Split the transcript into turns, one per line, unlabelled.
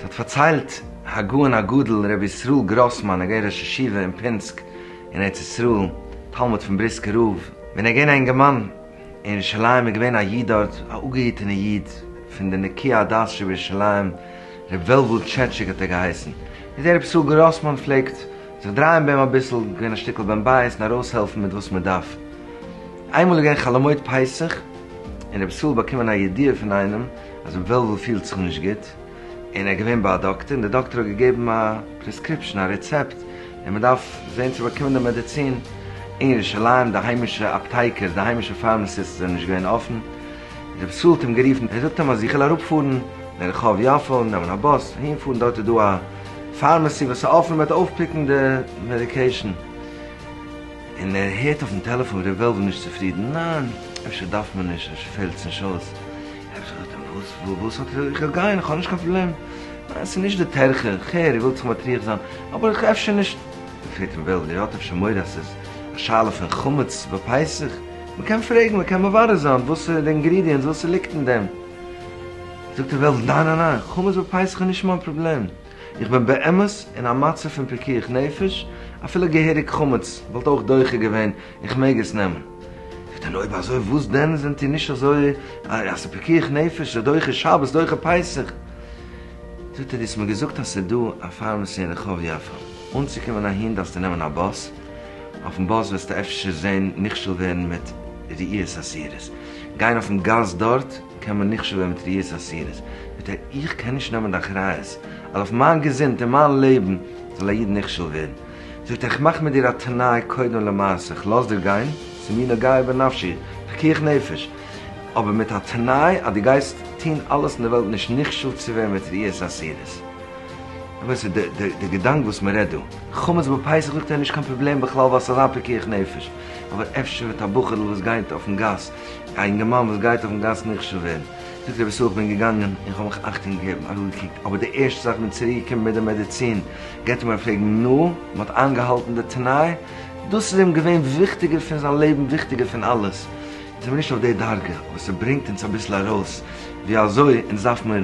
ס'האט פארציילט הגאון הגדול רבי ישראל גראסמאן הגה ראש ישיבה אין פינסק אין ארץ ישראל, תלמיד פון בריסקער רב, ווען ער איז געווען א אינגערמאן אין ירושלים איז געווען א איד דארט, א אפגעהיטענע איד פון די נקיי הדעת שבירושלים, ר' וועלוול טשעטשיק האט ער געהייסן, איז דער רב סאל גראסמאן פלעגט זיך דרייען ביי אים אביסל, געווען א שטיקל בן בית און ארויסהעלפן מיט וואס מען דארף. איינמאל איז געווען חאלעמויד פסח און רב סאל באקומען א ידיעה פון איינעם אז ר' וועלוול פילט זיך נישט גוט און ער איז געווען ביי א דאקטער און דער דאקטער האט געגעבן א פרעסקריפשאן, א רעצעפט, און מען דארף זען צו באקומען די מעדיצין אין ירושלים, די היימישע אפטייקערס, די היימישע פארמעסיסטס זענען נישט געווען אפן. רב ז האט אים גערופן ער זאגט אים אז איך וויל אראפ פארן לרחוב יפו נעמען א באס אהין פארן דארט איז דא א פארמעסי וואס איז אפען מ'וועט אויפפיקן די מעדיקעישן און ער הערט אויפן טעלעפאן ר' וועלוול נישט צופרידן ניין אפשר דארף מען נישט אפשר פעלטס נישט אויס רב ז זאגט אים וואס וואס האט איך וויל גיין איך האב נישט קיין פראבלעם ניין ס'איז נישט די טרחה איך הער איר ווילט זיך מטריח זיין אבער איך אפשר נישט פרעגט אים וועלוול איר האט אפשר מורא אז ס'איז א שאלה פון חמץ ביי פסח? מען קען פרעגן, מען קען מברר זיין וואס איז די אינגרידיענטס, וואס איז ליגט אין דעם, זאגט די וועלט ניין ניין ניין, חמץ בפסח איז נישט מיין פראבלעם, איך בין באמת אין א מצב פון פיקוח נפש, אפילו געהעריג חמץ וואלט אויך דוחה געווען, איך מעג עס נעמען, זאגט ער נו אויב אזוי וואס דען זענט איר נישט אזוי אז ס'איז פיקוח נפש, ס'איז דוחה שבת, דוחה פסח, זאגט ער דו האסט מיר געזאגט אז ס'איז דא א פארמעסי אין רחוב יפו, אנצוקומען אהין דארפסטו נעמען א באס, אויפן באס וועסטו אפשר זען נכשל ווערן מיט ראיות אסירות. גיין אויפן גאס דארט קען מען נכשל ווערן מיט ראיות אסירות. ביטע איך קען נישט נעמען די אחריות אז אויף מיין געזונט און מיין לעבן זאל א איד נכשל ווערן. זאגט ער איך מאך מיט דיר א תנאי קודם למעשה איך לאז דיר גיין ס'איז מיר נוגע בנפשי פיקוח נפש אבער מיט א תנאי אז דו גייסט טון אלעס אין די וועלט נישט נכשל צו ווערן מיט ראיות אסירות. אמת איז די געדאנק וואס מען רעדט דא, חמץ ביי פסח זאגט ער נישט קיין פראבלעם בכלל ווייל ס'איז א פיקוח נפש, אבער אפשר וועט א בחור'ל וואס גייט אויפן גאס, א אינגערמאן וואס גייט אויפן גאס נחשד ווערן, זאגט ער בסוף כ'בין געגאנגען און כ'האב מיך אכטונג געגעבן, אראפגעקוקט, אבער די ערשטע זאך כ'בין צוריק געקומען מיט די מעדיצין גייט ער מיר פרעגן נו, מען האט איינגעהאלטן די תנאי? דאס איז אים געווען וויכטיגער פון זיין לעבן וויכטיגער פון אלעס, אונז זעמיר נישט אויף די דרגה, אבער ס'ברענגט אונז אביסל ארויס ווי אזוי אונז דארף מיר.